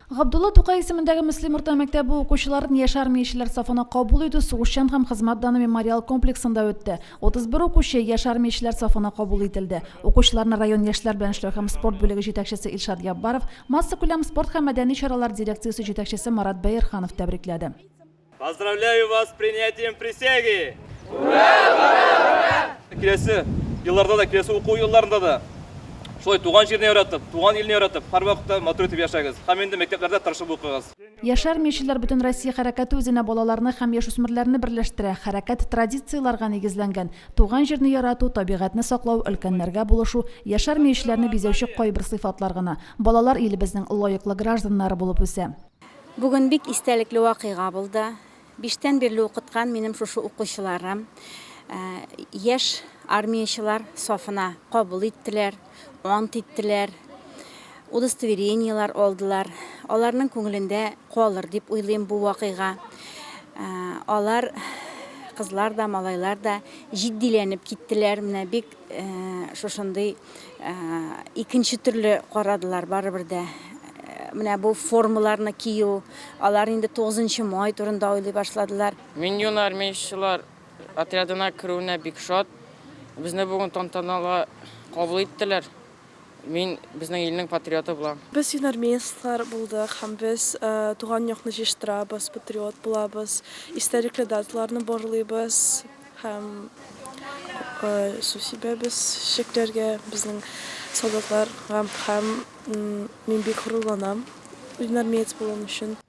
Габдулла Тукай исемендәге Мөслим урта мәктәбе укучыларын яшь армиячеләр сафына кабул итү сугышчан һәм хезмәт даны мемориал комплексында үтте. 31 укучы яшь армиячеләр сафына кабул ителде. Укучыларны район яшьләр белән эшләү һәм спорт бүлеге җитәкчесе Илшат Яббаров, массакүләм спорт һәм мәдәни чаралар дирекциясе җитәкчесе Марат Бәерханов тәбрикләде. Поздравляю вас с принятием присяги! Ура! Ура! Киләсе елларда да, киләсе уку елларында да шулай туган җирне яратып, туган илне яратып, һәр вакытта матур итеп яшәгез. Һәм инде мәктәпләрдә тырышып укыгыз. Яшәр мечетләр бөтен Россия хәрәкәте үзенә балаларны һәм яшүсмерләрне берләштерә. Хәрәкәт традицияләргә нигезләнгән. Туган җирне ярату, табигатьне саклау, өлкәннәргә булышу, яшәр мечетләрне бизәүче кайбер сыйфатлар гына. Балалар илебезнең лаеклы гражданнары булып үсә. Бүген бик истәлекле вакыйга булды. Биштән бирле укыткан минем шушы укучыларым яшь армиячылар сафына кабул иттеләр, ант иттеләр, удостоверениелар алдылар. Аларның күңелендә калыр дип уйлыйм бу вакыйга. Алар, кызлар да, малайлар да җитдиләнеп киттеләр. Менә бик Шушындый икенче төрле карадылар барыбер дә. Менә бу формаларны кию, алар инде 9 май турында уйлый башладылар. Мин юн армиячелар отрядына керүенә бик шат. Безне бүген тантаналы кабул иттеләр. Мин безнең илнең патриоты булам. Без юнармейецлар булдык һәм без туган якны җыештырабыз, патриот булабыз, истәлекле даталарны барлыйбыз һәм су сибәбез чәчәкләргә безнең солдатларга һәм мин бик горурланам юнармеец булуым өчен.